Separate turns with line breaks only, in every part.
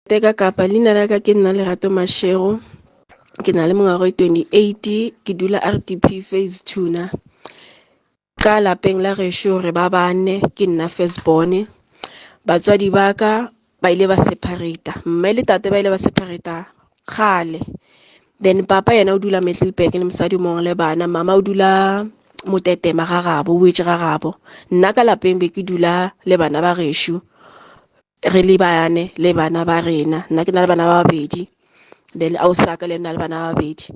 teka kapa leina la ka ke nna lerato mashego ke na le mengwaga e 28 ke dula rdp phase tuna ka lapeng la gešo re ba bane ke nna first born batswadi ba ka ba ile ba separata mme le tate ba ile ba separata kgale then papa yena o dula middleburg le mosadi mongwe le bana mama o dula motetema ga gabo o etse ga gabo nna ka lapeng be ke dula le bana ba gešo re le bane le bana ba rena nna ke na le bana ba babedi then a o sa ka le nna le bana ba babedi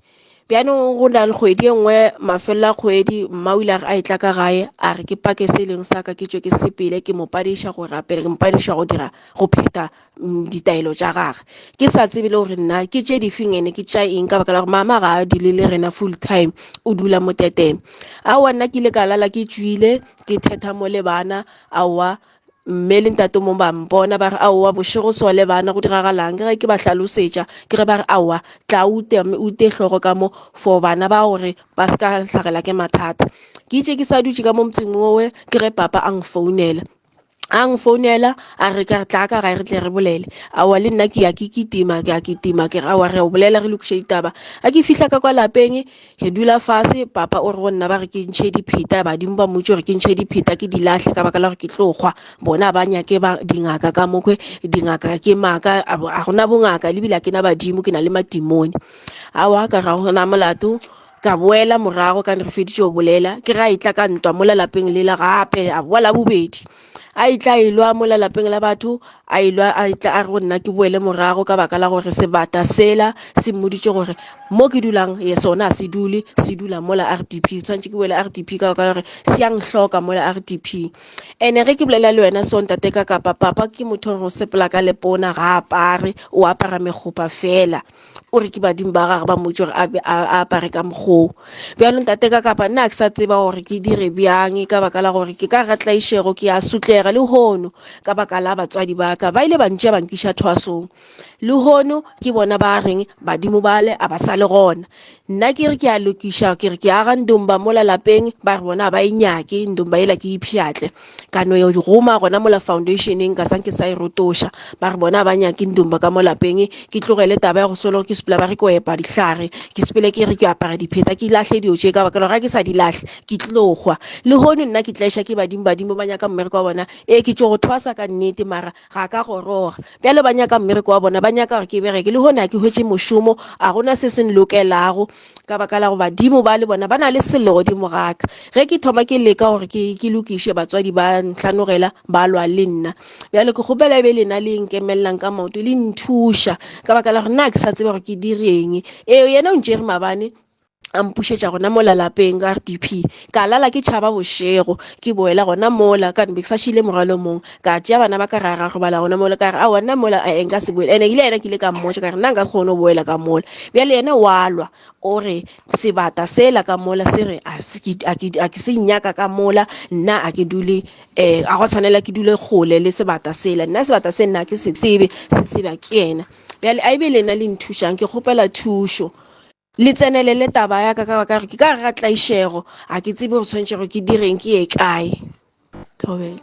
bjanong go na le kgwedi e nngwe mafelelo a kgwedi mma o ile a e tla ka gae a re ke pake se e leng sa ka ke tswe ke sepele ke mo padiša go rapela ke mo padiša go dira go pheta mm, ditaelo tša gage ke sa tsebe le gore nna ke tše difeng ene ke tša eng ka baka la gore mama ga a dule le rena full time o dula mo teteng aowa nna ke ile ka lala ke tswile ke thetha mo le bana aowa Mme le ntate mong ba mpona ba re, Aowa, bošego sole bana, go diragalang? Ke ge ke ba hlalosetša, ke ge ba re, Aowa, tla o ute, mme o ute hlogo ka mo, for bana ba gore ba se ka hlagela ke mathata. Ke itše ke sa dutše ka mo motseng wowe, ke ge papa a nfounela a nfounela a re ka re tla ka gae re tle re bolele awa le nna ke ya ke kitima ke ya kitima ke re awa re o bolela re lokiše ditaba a ke fihla ka kwa lapeng Re dula fase, papa o re go nna ba re ke ntšhe dipheta, badimo ba mmotse gore ke ntšhe dipheta ke di lahle ka baka la gore ke tlo kgwa. Bona ba nyake ba dingaka ka mokhwe, dingaka ke maaka, a bo- a gona bongaka, lebile a ke na badimo, ke na le matimone. Awa, ka ra gona molato, ka boela morago ka ne re feditše go bolela, ke ge a e tla ka ntwa mola lapeng lela gape, a boa la bobedi. a itla a ilwa mo lalapeng la batho a ilwa a itla a re go nna ke boele morago ka baka la gore sebata sela se mmoditše gore mo ke dulang ye sona se dule se dula mola r d p tshwanetse ke boele r d p ka baka la gore se yang hloka mola r d p ene ge ke bolela le wena so ntate ka kapa papa ke motho gore o sepela ka lepona ga apare o apara megopa fela o re ke badimo ba gage ba mmotse gore a apare ka mokgoo bjalo ntate ka kapa nna ke sa tseba gore ke dire bjang ka baka la gore ke ka ga tlaišego ke a sutlega le hono ka baka la batswadi ba ka ba ile ba ntša ba nkiša thwasong le hono ke bona ba reng badimo bale a ba sa le gona nna ke re ke a lokiša ke re ke aga ndomba mola lapeng ba re bona ba e nyake ndomba ela ke ipšhatle ka no e goma gona mola foundationeng ka sanke sa e rotoša ba re bona ba nyake ndomba ka mo lapeng ke tlogele taba ya go solo ke sepela ba re ke o epa dihlare ke sepele ke re ke apara dipheta ke lahle dio tše ka baka ga ke sa di lahle ke tlogwa le hono nna ke tleša ke badimo badimo ba nyaka mmereko wa bona ee ke tšo go thwasa ka nnete mara ga ka goroga bjalo ba nyaka mmereko wa bona ba nyaka gore ke bereke le gone a ke hwetše mošomo a gona se se nlokelago ka baka la go badimo ba le bona ba na le sello godimo gaka ge ke thoma ke leka gore ke, ke lokiše batswadi ba ntlhanogela ba lwa le nna bjalo ke kgopela e be lena le nkemelelang ka maoto le nthuša ka baka la gore nna ke sa tsebe gore ke direng eo yena o ntšere mabane a mpušetša gona mola lapeng ka rdp ka lala ke tšhaba bošego ke boela gona mola ka be ke sa šile morwalo mong ka tšea bana ba ka ra ra robala gona mola ka re a gona mola a enka se boele ene ile yena ke ile ka mmotša ka re nna nka se kgone go boela ka mola bjale yena wa lwa o re sebata sela ka mola se re a ke se nyaka ka mola nna a ke dule um a go tshwanela ke dule kgole le sebata sela nna sebata se nna ke se tsebe se tseba ke yena bjale a e be le nna le nthušang ke kgopela thušo le tsenelele taba ya ka ka baka gore ke ka ga tlaišego ga ke tsebe gore tshwanetšego ke direng ke ye kae thobela